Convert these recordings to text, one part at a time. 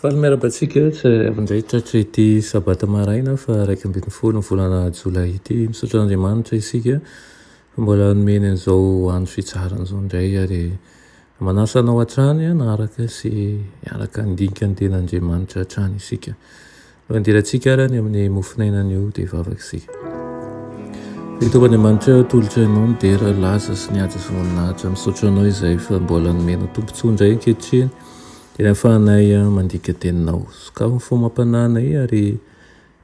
Faly miarahaba antsika izay avy indray tratra ity sabata maraina faha iraika ambin'ny folo ny volana jolay ity. Misaotra an'Andriamanitra isika fa mbola nomeny an'izao andro fitsarana izao indray ary manasa anao hatrany hanaraka sy hiaraka handinika ny tenan'Andriamanitra hatrany isika. Mandirantsika ara ny amin'ny mofonainany eo dia vavaka isika. Ry Tompo Andriamanitra aho atolotro Anao ny dera, laza sy ny ady sy voninahitra. Misaotra Anao izay fa mbola nomenao tombon-tsoa indray ankehitriny dia ahafahanay mandika Teninao. Sokafy ny fo amam-panahinay ary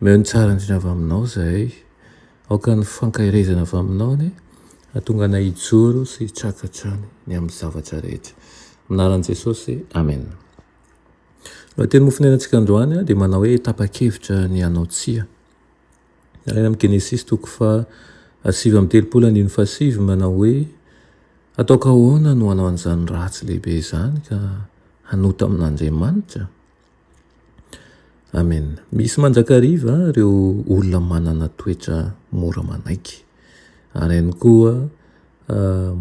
omeo ny tsara indrindra avy Aminao izahay. Aoka ny fankaherezana avy Aminao anie hahatonga anay hijoro sy hitraka hatrany ny amin'ny zavatra rehetra. Amin'ny anaran'i Jesosy, Amena. Raha teny mofonainantsika androany dia manao hoe tapa-kevitra ny hanao tsia. Alaina amin'ny Genesisy toko faha sivy amby telopolo andininy faha sivy manao hoe ataoko ahoana no hanao an'izany ratsy lehibe izany ka hanota amin'Andriamanitra? Amen. Misy mandrakariva ireo olona manana toetra mora manaiky ary ihany koa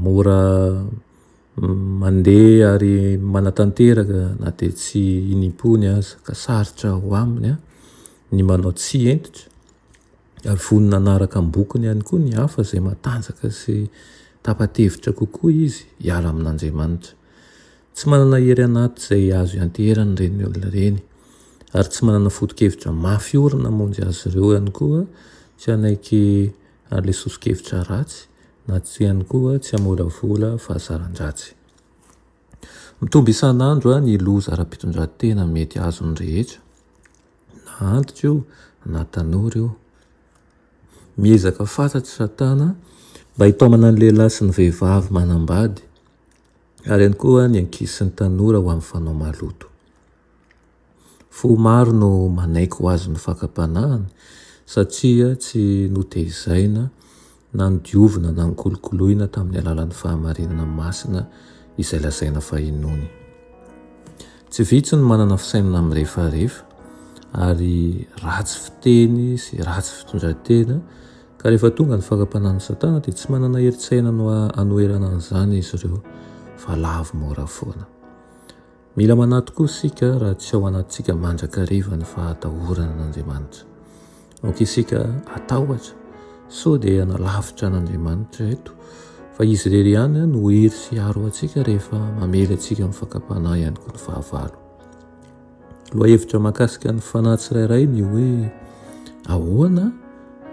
mora Mandeha ary manatanteraka na dia tsy inim-pony aza, ka sarotra ho aminy ny manao tsy hentitra, ary vonona hanaraka am-bokony ihany koa ny hafa izay matanjaka sy tapa-tevitra kokoa izy hiala amin'Andriamanitra. Tsy manana hery anaty izay azo ianteherana ireny olona ireny, ary tsy manana foto-kevitra mafy orina hamonjy azy ireo ihany koa tsy hanaiky ary ilay soso-kevitra ratsy na tsy ihany koa tsy hamolavola fahazaran-dratsy. Mitombo isan'andro ny loza ara-pitondran-tena mety azon'ny rehetra, na antitra io na tanora io. Miezaka fatratra Satana mba hitaomana ny lehilahy sy ny vehivavy manambady, ary ihany koa ny ankizy sy ny tanora ho amin'ny fanao maloto. Fo maro no manaiky ho azon'ny fakam-panahiny satria tsy notehizaina na nodiovina na nikolokoloina tamin'ny alalan'ny fahamarinana masina izay lazaina fa inoany. Tsy vitsy ny manana fisainana mirefarefa ary ratsy fiteny sy ratsy fitondran-tena ka rehefa tonga ny fakam-panahin'i Satana dia tsy manana herin-tsaina hanoherana an'izany izy ireo fa lavo mora foana. Mila manahy tokoa isika raha tsy ao anatintsika mandrakariva ny fahatahorana an'Andriamanitra. Aoka isika hatahotra sao dia nalavitra an'Andriamanitra eto fa Izy irery ihany no hery sy aro antsika rehefa mamely antsika amin'ny fakam-panahy ihany koa ny fahavalo. Lohahevitra makasika ny fanahy tsirairay ny hoe ahoana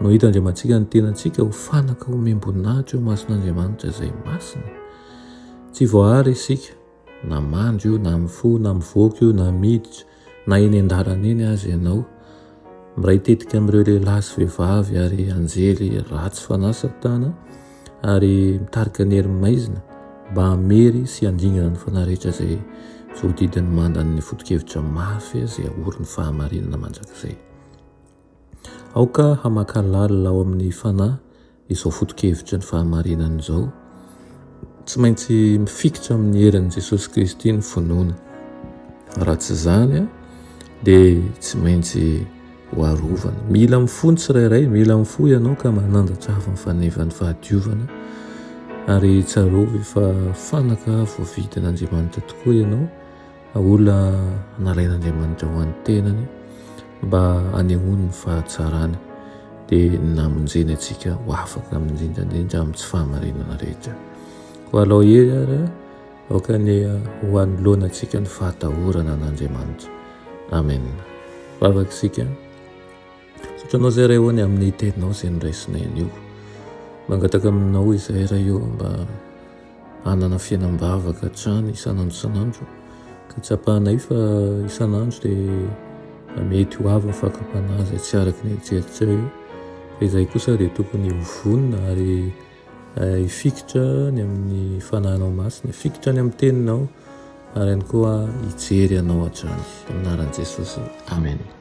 no hita Andriamantsika ny tenantsika ho fanaka omem-boninahitra eo mason'Andriamanitra izay masina. Tsy voahary isika. Na mandry io, na mifoha, na mivoaka io, na miditra, na eny an-dalana eny aza ianao, miray tetika amin'ireo lehilahy sy vehivavy ary anjely ratsy fanahy Satana ary mitarika ny hery maizina mba hamery sy handingana ny fanahy rehetra izay voadidin'ny mandan'ny foto-kevitra mafy izay ahorin'ny fahamarinana mandrakizay. Aoka hamakà lalina ao amin'ny fanahy izao foto-kevitry ny fahamarinana izao. Tsy maintsy mifikitra amin'ny herin'i Jesosy Kristy ny finoana. Raha tsy izany, dia tsy maintsy hoarovana. Mila mifoha ny tsirairay, mila mifoha ianao ka manandratra avy ny fanevan'ny fahadiovana. Ary tsarovy fa fanaka voavidin'Andriamanitra tokoa ianao. Olona nalain'Andriamanitra ho an'ny tenany mba hanehoany ny fahatsarany dia namonjeny antsika ho afaka indrindraindrindra amin'ny tsy fahamarinana rehetra. Koa alao hery ary aoka ny ho anoloana antsika ny fahatahorana an'Andriamanitra. Amen. Vavaka isika. Tratranao izay Ray ô ny amin'ny Teninao izay noraisinay anio. Mangataka aminao izay Ray ô mba hanana fiainam-bavaka hatrany isan'andro isan'andro ka tsapanay fa isan'andro dia mety ho avy ny fakam-panahy izay tsy araka ny eritreritrao io. Fa izahay kosa dia tokony ho vonona ary hifikitra ny amin'ny Fanahynao Masina, hifikitra ny amin'ny Teninao ary ihany koa hijery Anao hatrany. Amin'ny anaran'i Jesosy, Amena.